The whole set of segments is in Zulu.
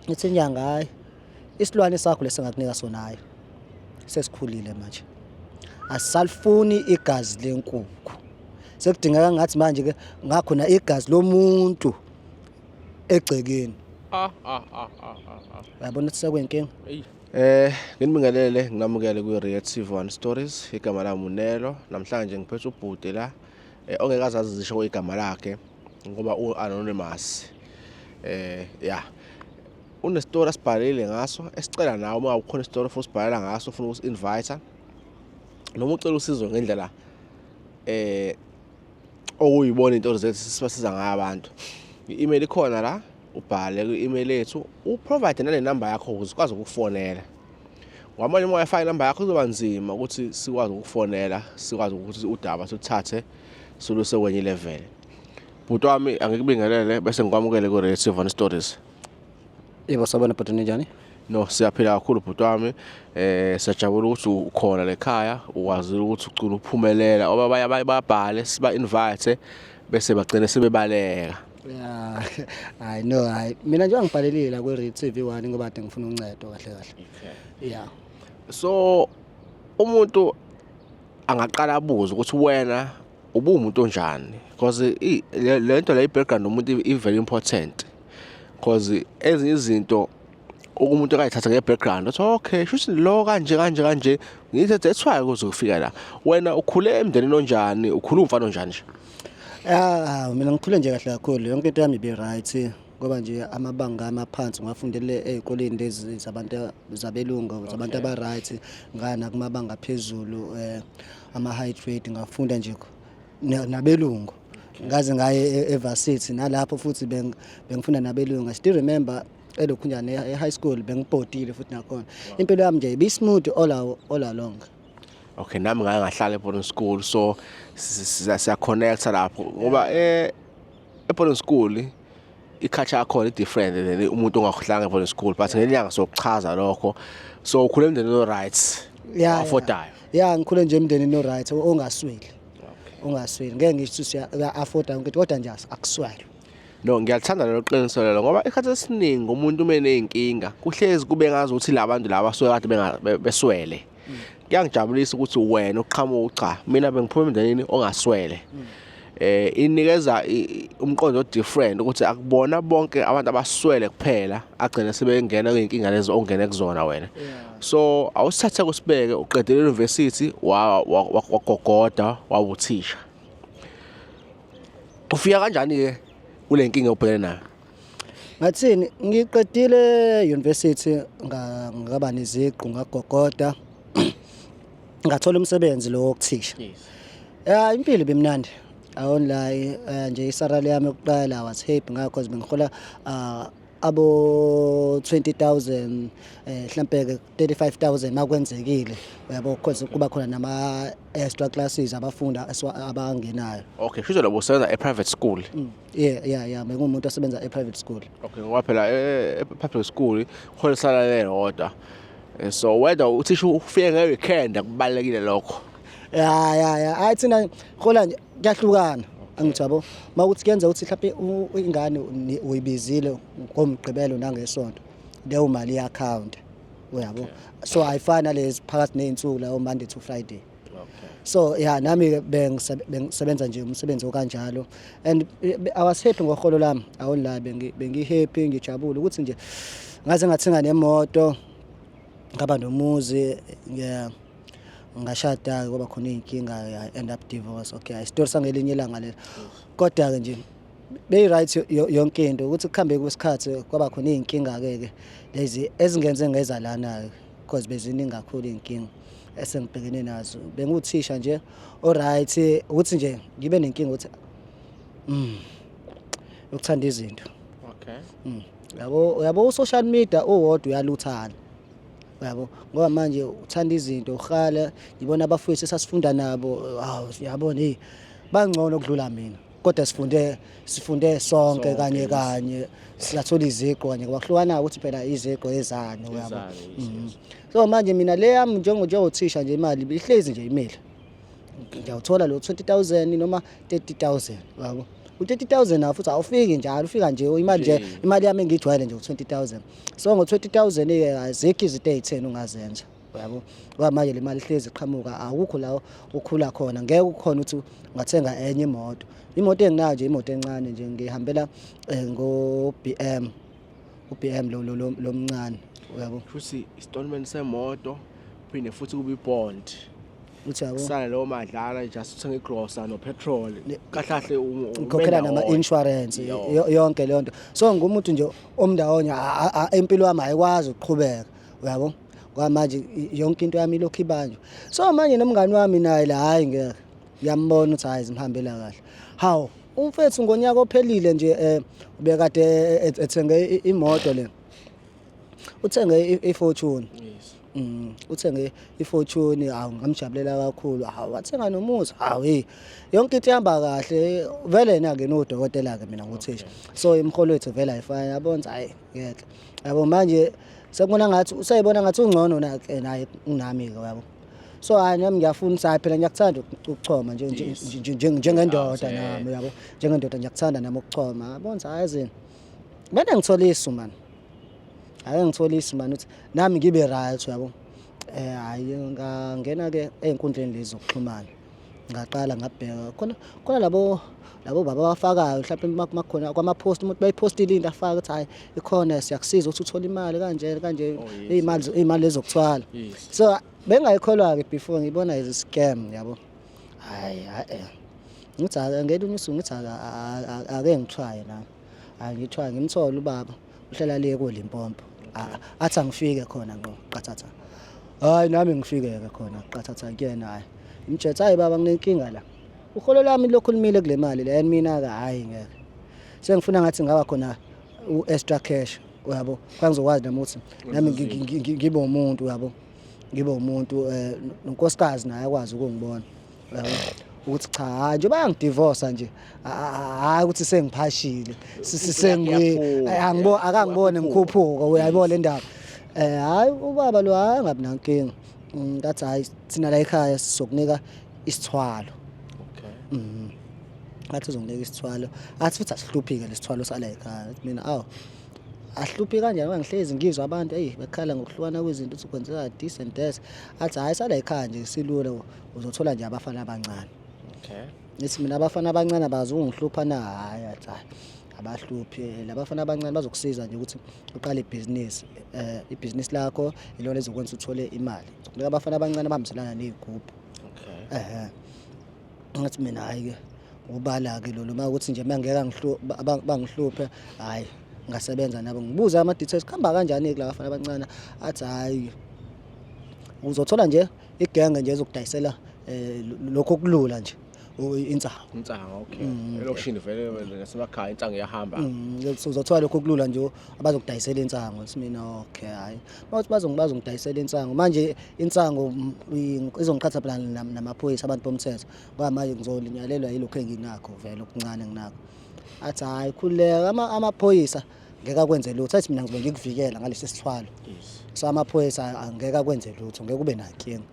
ngithi inyanga hayi isilwane sakho lesingakunika sona hayi sesikhulile manje asalifuni igazi lenkukhu sekudingeka ngathi manje ke ngakho na igazi lomuntu egcekeni ah ah ah ah ah yabona ukuthi sekwenkinga eh nginibingelele nginamukele ku Red TV One Stories igama lami uNelo namhlanje ngiphethe ubhuti la eh, ongekazazi zisho igama lakhe ngoba u anonymous eh ya unestori asibhalile ngaso esicela nawe uma ukhona isitori futhi sibhalela ngaso ufuna uku invite noma ucela usizo ngendlela eh okuyibona into zethu sibasiza ngayo abantu i-email ikhona la ubhale kwi-email yethu uprovide nale number yakho ukuze ukwazi ukufonela ngoba manje uma uyafaka inamba yakho kuzoba nzima ukuthi sikwazi ukukufonela sikwazi ukuthi udaba siluthathe siluse kwenye level bhuti wami angikubingelele bese ngikwamukele ku-radio sivon stories yebo sabona bhuti ninjani no siyaphila kakhulu bhuti wami eh siyajabula ukuthi ukhona lekhaya ukwazile ukuthi ucula uphumelela oba bayababhale siba invite bese bagcine sebebaleka Yeah, I know. I mina nje angibhalelile la kwi TV 1 ngoba ade ngifuna uncedo kahle kahle. Okay. Yeah. So umuntu angaqala abuze ukuthi wena ubuwumuntu onjani because le nto la i-background umuntu i-very important because ezinye izinto okumuntu akayithatha nge-background othi okay shuthi lo kanje kanje kanje ngithe that's why kuze kufika la wena ukhule emndenini onjani ukhula umfana onjani nje ah mina ngikhule nje kahle kakhulu yonke into yami be right ngoba nje amabanga amaphansi ngafundele ezikoleni lezi zabantu zabelungu zabantu aba right ngana kumabanga phezulu eh ama high grade ngafunda nje nabelungu ngaze ngaye e-, evarsity nalapho futhi bengifunda nabelungu i still remember elokhu njani e-high school bengibhodile futhi nakhona impilo yami nje ibismooth all all along okay nami ngake ngahlala eBoarding School so siyaconnect lapho ngoba eh eBoarding School ikhatsha yakho i different than umuntu ongahlanga eBoarding School but ngelinyanga sokuchaza lokho so ukhule emndenini no rights yeah affordayo yeah ngikhule nje emndenini no rights ongasweli ongasweli ngeke ngisho ukuthi uya afforda yonke kodwa nje akusweli No ngiyathanda lelo qiniso lelo ngoba ikhathi esiningi umuntu uma eneyinkinga kuhlezi kube ngazi ukuthi labantu laba suke kade beswele. Mm. Kuyangijabulisa ukuthi wena uqhamuka cha mina bengiphuma emndenini ongaswele. Mm. eh inikeza umqondo different ukuthi akubona bonke abantu abaswele kuphela agcina sebengena kuyinkinga lezi ongene kuzona wena so awusithathe kusibeke uqedele university wagogoda wawuthisha Ufika kanjani ke kule nkinga obhekene nayo? Ngathini ngiqedile university ngaba neziqu ngagogoda ngathola umsebenzi lo wokuthisha. Ya impilo ibimnandi. Awon la eh, nje isalary yami yokuqala was happy ngakho bengihola ah, abo 20000 eh mhlambe 35000 makwenzekile uyabo because kuba khona nama extra classes abafunda abangenayo okay shuthi labo usebenza e private school mm. yeah yeah yeah mengumuntu osebenza e private school okay ngoba phela e eh, eh, public school khona sala lelodwa eh, so whether uthisha ufike nge weekend akubalekile lokho yeah yeah yeah ayi thina khola nje kuyahlukana angithi yabo makuthi kuyenza ukuthi mhlawumbe ingane uyibizile ngomgqibelo nangesonto leyo mali ya account uyabo okay. so ayifana lezi phakathi nezinsuku la Monday to Friday okay. so yeah nami ke bengisebenza nje umsebenzi okanjalo and eh, I was happy ngoholo lami awonla bengi bengi happy ngijabule ukuthi nje ngaze ngathenga nemoto ngaba nomuzi yeah ngashada ke kwaba khona izinkinga I end up divorce okay i story sangelinye ilanga lelo kodwa ke nje beyi-right yonke into ukuthi kuhambe kwesikhathi kwaba khona iy'nkinga-ke ke lezi ezingenze ngeza lana-ke because beziningi kakhulu iy'nkinga esengibhekene nazo benguthisha nje o-right ukuthi nje ngibe nenkinga ukuthi mm, ukuthanda izinto okay mm. yabo uyabo u-social media uwodwa uyaluthana yabo ngoba manje uthanda izinto uhala ngibona abafowethu esasifunda nabo hawu yabona eyi bangcono ukudlula mina kodwa sifunde sifunde sonke kanye kanye siyathola iziqo kanye ngoba kuhlukana ukuthi phela iziqo ezani uyabo mhm. so manje mina le yami njengo njengothisha nje imali ihlezi nje imile ngiyawuthola lo 20000 noma 30000 yabo u-30000 nawo futhi awufiki njalo ufika nje imali nje imali yami engiyijwayele nje u-20000 so ngo-20000 ke azikho izinto ey'theni ungazenza yabo ngoba manje le mali ihlezi iqhamuka awukho la ukhula khona ngeke ukhona ukuthi ungathenga enye imoto imoto enginayo nje imoto encane nje ngihambela eh, ngo-BM u-BM lo lo lo- lo mncane uyabo futhi isitolment semoto phinde futhi kube ibond uthi yabo kusale leyo madlana just uthenge igrosa nopetrol kahlahle ngikhokhela nama-insurance yo- yonke leyo nto so ngumuntu nje omndawonye a- a- a- impilo yami ayikwazi ukuqhubeka uyabo kwamanje yonke into yami ilokhu ibanjwa so manje nomngani wami naye la hayi ngeke ngiyambona ukuthi hayi zimhambela kahle hawu umfethu ngonyaka ophelile nje eh ubekade eh, eh, ethenge imoto le uthenge ifortune yes Mm, uthenge ifortune hawu ngamjabulela kakhulu hawu wathenga nomuzi hawu hey yonke into ihamba kahle vele yena ke nodokotela ke mina nguthisha so imholo wethu vele ayifani yabona hayi Ngeke. Yabo manje sekubona ngathi usayibona ngathi ungcono na ke naye kunami ke yabo. So hayi nami ngiyafuna sayi phela ngiyakuthanda ukuchoma nje nje- Yes. nje- nje- njengendoda Yes, eh. nami yabo. Njengendoda ngiyakuthanda nami ukuchoma. Yabona ukuthi hayi zini. Mina ngithola isu man. Hayi ngithola isu man ukuthi nami ngibe right yabo. Eh hayi ngangena ke ezinkundleni lezi zokuxhumana. ngaqala ngabheka khona khona labo labo baba abafakayo mhlawumbe uma kumakhona kwamapost umuntu bayipostile into afaka ukuthi hayi ikhona siyakusiza ukuthi uthole imali kanje kanje oh, izimali izimali ezokuthwala so bengayikholwa ke before ngibona is scam yabo hayi hayi ngithi ake ngelinye usuku ngithi ake ngithwaye nami angithwaye ngimthole ubaba uhlala le ko Limpopo athi angifike khona ngqo qathatha hayi nami ngifike ke khona qathatha kuyena hayi imjetha hayi baba nginenkinga la uholo lami lokhulumile kule mali le and mina ka hayi ngeke sengifuna ngathi ngaba khona u extra cash uyabo kwangizokwazi nami ukuthi nami ngibe umuntu uyabo ngibe umuntu eh nonkosikazi naye akwazi ukungibona ukuthi cha hayi nje bayangidivorce nje hayi ukuthi sengiphashile sengiangibo akangibone ngikhuphuka uyayibona le ndaba eh hayi ubaba lo hayi ngabi nankinga ngathi mm, hayi thina la ekhaya sizokunika isithwalo okay mhm ngathi uzonginika isithwalo athi futhi asihluphike lesithwalo sala ekhaya mina awu ahluphi kanjani ngoba ngihlezi ngizwa abantu eyi bekhala ngokuhlukana kwezinto ukuthi kwenzeka this and that athi hhayi sala yikhaya nje silula uzothola nje abafana abancane okay ngithi mina abafana abancane abazi ukungihlupha na hayi athi hayi abahluphi eh, labafana abancane bazokusiza nje ukuthi uqale ibhizinisi eh ibhizinisi lakho ilona ezokwenza uthole imali kunika abafana abancane bahambiselana nezigubhu okay ehe ngathi mina hayi ke ubala ke lolu uma ukuthi nje mangeke angihluphe bangihluphe hayi ngasebenza nabo ngibuza ama details kuhamba kanjani ke labafana abancane athi hayi uzothola nje igenge nje ezokudayisela eh, lokho kulula nje insangu insangu okay mm, elokishini vele nasemakhaya insangu iyahamba mm, uzothola lokho kulula nje abazokudayisela insangu simina okay hayi bathi bazongibazo ngidayisela insangu manje insangu mm, izongiqhatha phela namaphoyisa abantu bomthetho ngoba manje ngizolinyalelwa yilokho enginakho vele okuncane nginakho athi hayi khuleka amaphoyisa ama ngeke akwenze lutho athi mina ngizobe ngikuvikela ngalesi sithwalo so amaphoyisa angeke akwenze lutho ngeke ube nankinga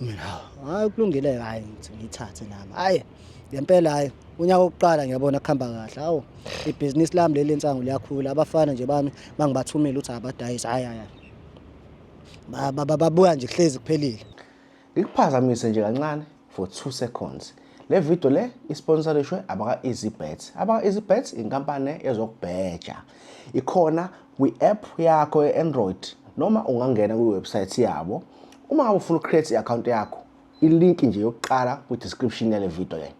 mina hayi kulungile hayi ngithathe nami hayi ngempela hayi unyaka wokuqala ngiyabona kuhamba kahle hawu ibhizinisi lami leli nsangu liyakhula abafana nje bami mangibathumile ukuthi abadayisi hayi hayi babuya nje kuhlezi kuphelile Ngikuphazamise nje kancane for 2 seconds. Le video le isponsorishwe abaka-EasyBet. Abaka-EasyBet inkampani ezokubheja. Ikhona kwi-app yakho ye-Android noma ungangena kwi-website yabo. Uma ufuna ucreate i-account yakho, ilink nje yokuqala kwi-description yale video le.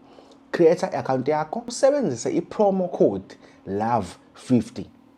Create i-account yakho usebenzise i-promo code LOVE50.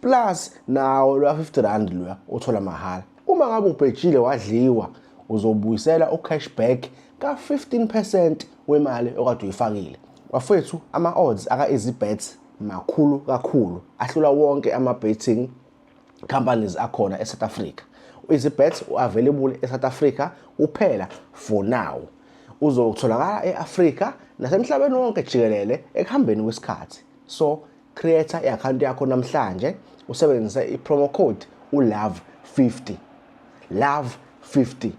plus nawo lwa 50 rand loya uthola mahhala uma ngabe ubhejile wadliwa uzobuyisela ucashback ka-15% wemali okade uyifakile bafethu ama-odds aka-easy bets makhulu kakhulu ahlula wonke ama-betting companies akhona e-south africa u-easy bets u-available e-south africa kuphela for now uzotholakala e-afrika nasemhlabeni wonke jikelele ekuhambeni kwesikhathi so creator i-akhawunti yakho namhlanje usebenzise i-promo code ulove 50 love 50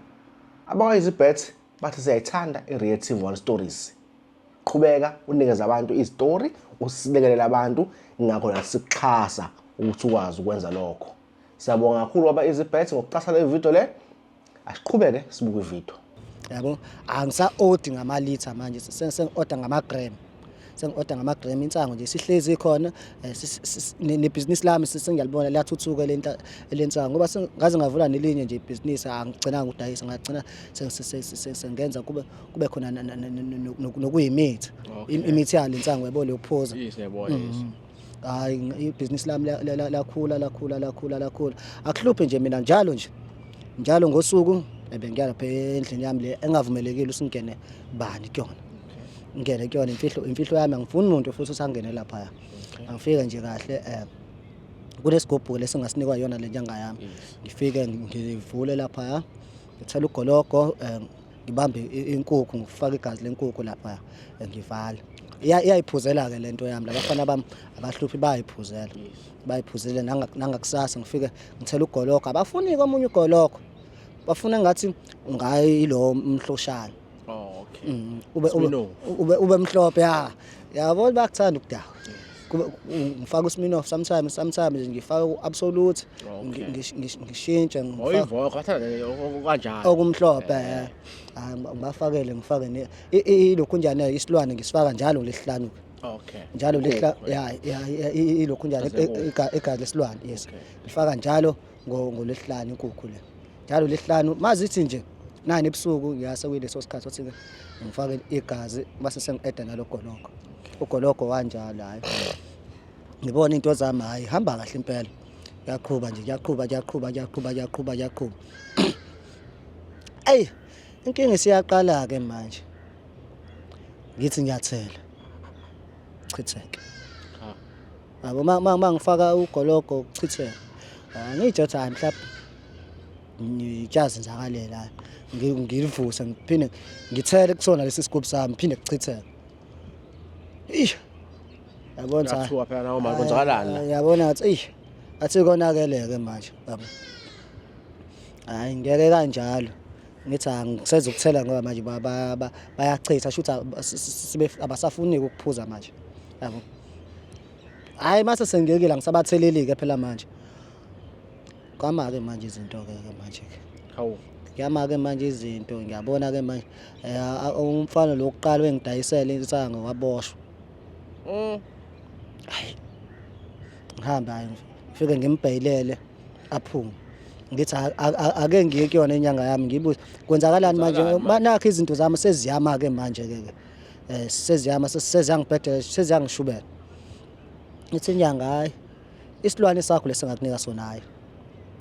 abakwa-easybet bathi siyayithanda i-reactive one stories qhubeka unikeza abantu izitori usilekelele abantu ingakho nasikuxhasa ukuthi ukwazi ukwenza lokho Siyabonga kakhulu waba easy bet ngokuqasha le video le. Asiqhubeke sibuke ivideo. Yabo angisa order ngama liter manje sengi order ngama gram. Sengi order ngama gram insango nje sihlezi khona eh, ne business lami sengiyalibona liyathuthuka lenta lensango ngoba ngaze ngavula nelinye nje business angigcinanga ukudayisa ngagcina sengenza kube kube khona nokuyimithi imithi yalo insango yabo lokuphuza. Yes yabona. Mm. hayi ibhizinisi lami lakhula lakhula lakhula lakhula akuhluphe nje mina njalo nje njalo ngosuku ebengiya lapha endlini yami le engavumelekile usingene bani kuyona ngene kuyona imfihlo imfihlo yami angifuni umuntu futhi usangene lapha angifike nje kahle eh kunesigubhu lesingasinikwa yona le nyanga yami ngifike ngivule lapha ngithela ugologo eh, ngibambe inkukhu ngifaka igazi lenkukhu lapha ngivala iyayiphuzela-ke le nto yami labafana bami abahluphi bayayiphuzela bayiphuzele nangakusasa ngifike ngithela ugologo abafuni-ke omunye ugologo bafuna ngathi ngayilo mhloshana oh, mm, ube mhlophe ya yabo bakuthanda ukudawa ngifaka usmin off sometimes sometimes ngifaka u-absolute ngishintshe okumhlophe eh. ah, ngibafakele ngifake ilokhu njani isilwane ngisifaka njalo lesihlanu okay njalo lehla ya ilokhu njalo igazi lesilwane yes ngifaka njalo ngolwesihlanu inkukhu le njalo lesihlanu mazithi nje nani ebusuku ngiyase kuyileso sikhathi othi ngifake igazi base sengi-eda nalo gologo ugologo wanjalo hhayi ngibona into zami hhayi hamba kahle impela kuyaqhuba nje kuyaqhuba kuyaqhuba kuyaqhuba kuyaqhuba kuyaqhuba eyi inkinga isiyaqala-ke manje ngithi ngiyathela chitheke Yabo uma ngifaka ugologo ukuchitheka ah, ngiyitsho ukuthi hayi mhlawumbe ngiyazenzakalela ngilivuse ngiphinde ngithele kusona lesi sigubhu sami phinde kuchitheke eish yabona cha kuthiwa phela nawo manje kwenzakalani la yabona athi eish athi konakeleke manje yabo hayi ngeke kanjalo ngithi angiseza ukuthela ngoba manje bayachitha shuthi abasafuni ukuphuza manje yabo hayi mase sengiyekile angisabatheleli-ke phela manje kwama-ke manje izinto-ke ke manje-ke hawu kuyama-ke manje izinto ngiyabona-ke manje um umfana lo kuqala wengidayisela insango waboshwa mm. hayi ngihambe hayi ngifike ngimbhayilele aphume ngithi ake ngiye kuyona inyanga yami ngibuze kwenzakalani manje nakho izinto zami seziyama-ke manje-ke ke um seziyama seziyangibhedela seziyangishubela ngithi inyanga hhayi isilwane sakho lesingakunika sona hhayi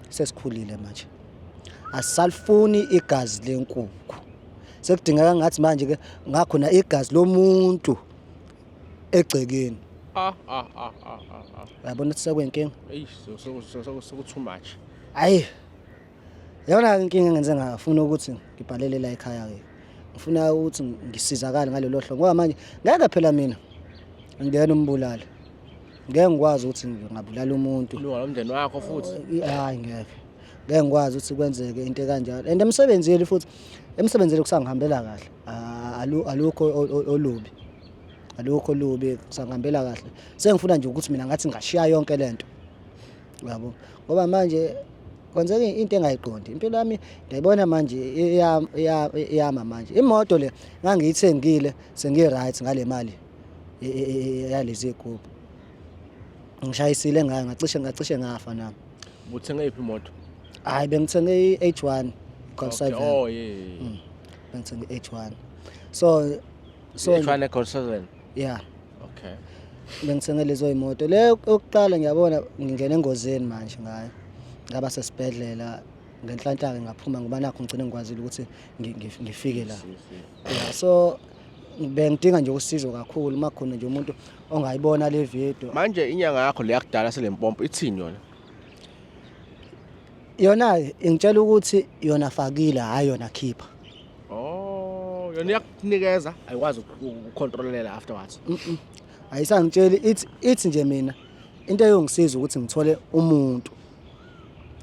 sesikhulile manje asalifuni igazi lenkukhu sekudingeka ngathi manje ke ngakhona igazi lomuntu egcekeni ah ah ah ah ah yabona ukuthi sekwenkinga eyi so so so so too much hayi Yona inkinga engenze ngafuna ukuthi ngibhalele la ekhaya ke. Ngifuna ukuthi ngisizakale ngalelo hlobo ngoba manje ngeke phela mina ngiyena umbulali. Ngeke ngikwazi ukuthi ngingabulala umuntu. Ilunga lomndeni wakho futhi. Hayi ngeke. Ngeke ngikwazi ukuthi kwenzeke into kanjalo. And emsebenzini futhi emsebenzini kusangihambela kahle. Ah, alukho olubi. Alukho olubi kusangihambela kahle. Sengifuna nje ukuthi mina ngathi ngashiya yonke lento. yabo ngoba manje kwenzeka into engayiqondi impilo yami ndiyayibona manje iyama manje imoto le ngangiyithengile sengi-right ngale mali yalezi y'gubhu ngishayisile ngayo ngacishe ngacishe ngafa nami ubuthenge yiphi imoto hhayi bengithenge i-h one okay. oh, yeah, yeah. Mm. bengithenge i-h one so so h one e-gold seven ya okay bengithenge lezo imoto le yokuqala ngiyabona ngingena engozini manje ngayo ngaba sesibhedlela ngenhlanhla-ke ngaphuma ngoba nakho ngigcine ngikwazile ukuthi ngi- ngi- ngifike la ya so bengidinga nje usizo kakhulu uma khona nje umuntu ongayibona le video manje inyanga yakho leyakudala selempompo ithini yona Yona-ke ingitshela ukuthi yona fakile hhayi yona khipha. Oh, yona iyakunikeza ayikwazi ukucontrolela afterwards. Ayisangitsheli ithi ithi nje mina into eyongisiza ukuthi ngithole umuntu.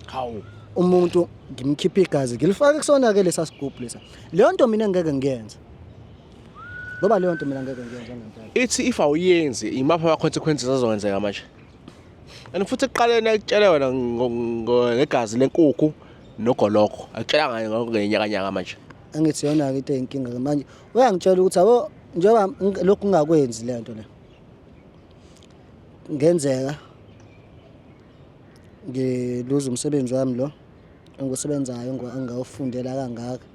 Hawu. Umuntu ngimkhiphe igazi ngilifake kusona-ke lesa sigubhu lesa. Leyo nto mina ngeke ngiyenze. Ngoba leyo nto mina ngeke ngiyenze ngempela. Ithi if awuyenzi imaphi ama-consequences azokwenzeka manje? and futhi ekuqaleni ayitshele wena ngegazi lenkukhu nogoloko akutshela ngayo ngakho ngenyakanyaka manje angithi yona-ke into eyinkinga ke manje uyangitshela ukuthi abo njengoba lokhu ngingakwenzi le nto le ngenzeka ngiluza umsebenzi wami lo engiwusebenzayo engingawufundela kangaka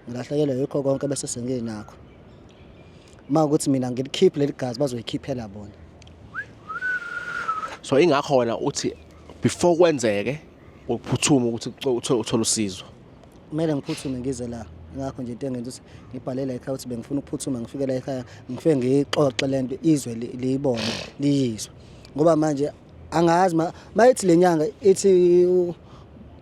ngilahlekelwe yikho konke bese senginakho uma ukuthi mina ngilikhiphe leli gazi bazoyikhiphela bona so ingakho wena uthi before kwenzeke ukuphuthuma ukuthi uthole uthole usizo kumele ngiphuthume ngize la ngakho nje into engenza ukuthi ngibhale la ekhaya ukuthi bengifuna ukuphuthuma ngifike la ekhaya ngifike ngiyixoxe le nto izwe liyibone liyizwe ngoba manje angazi mayithi lenyanga ithi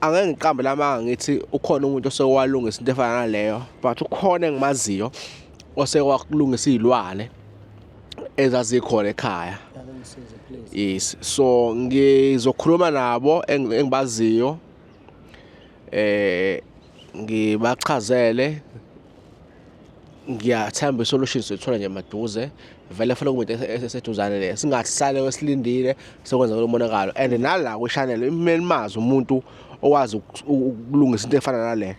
angeke ngiqambe lamanga ngithi ukhona umuntu osewalungisa into efana naleyo but ukhona engimaziyo osewakulungisa izilwane ezazikhona ekhaya yes so ngizokhuluma nabo engibaziyo eh ngibachazele ngiyathemba isolution sithola nje maduze vele funa kumuntu eseduzane le singahlale wesilindile sokwenza lo monakalo and nala ku channel imeli mazi umuntu owazi ukulungisa into efana nale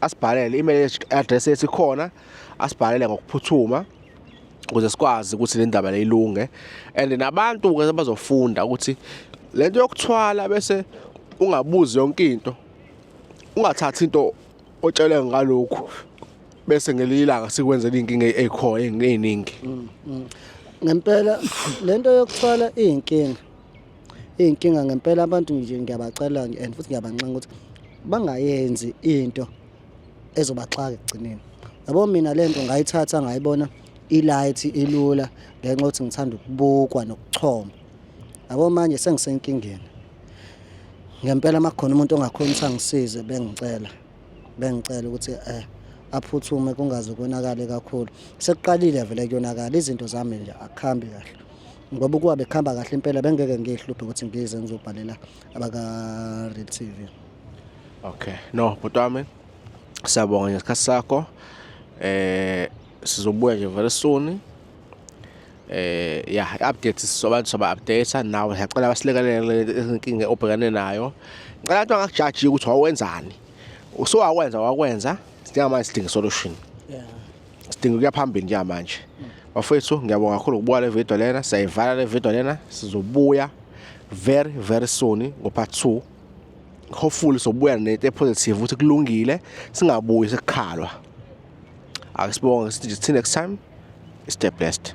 asibhalele email address yethu khona asibhalele ngokuphuthuma ukuze sikwazi ukuthi le ndaba leyilunge and nabantu ke bazofunda ukuthi lento yokuthwala bese ungabuzi yonke into ungathathi into otshele ngalokhu bese ngelinye ilanga sikwenzela inkinga ekho eningi mm, mm. ngempela lento yokuthwala izinkinga izinkinga ngempela abantu nje ngiyabacela nje and futhi ngiyabanxenxa ukuthi bangayenzi into ezobaxaka ekugcineni yabo mina lento ngayithatha ngayibona ilight ilula ngenxa ukuthi ngithanda ukubukwa nokuchoma yabo manje sengisenkingeni ngempela makhona umuntu ongakhona ukuthi angisize bengicela bengicela ukuthi eh aphuthume kungaze konakale kakhulu sekuqalile vele kuyonakala izinto zami nje akhambi kahle ngoba ukuba bekuhamba kahle impela bengeke ngihluphe ukuthi ngize ngizobhalela abaka Real TV okay no bhuti wami siyabonga ngesikhathi sakho eh sizobuya nje very soon eh ya update sizoba soba update nawe ngiyacela basilekelele inkinga obhekane nayo ngicela abantu angakujaji ukuthi wawenzani usuwawenza wakwenza sidinga manje sidinga solution yeah sidinga ukuya phambili njengamanje bafethu ngiyabonga kakhulu ukubuka le video lena siyayivala le video lena sizobuya very very soon ngo part 2 hopefully sobuya nento epositive ukuthi kulungile singabuyi sekukhalwa akusibonge sithi till next time stay blessed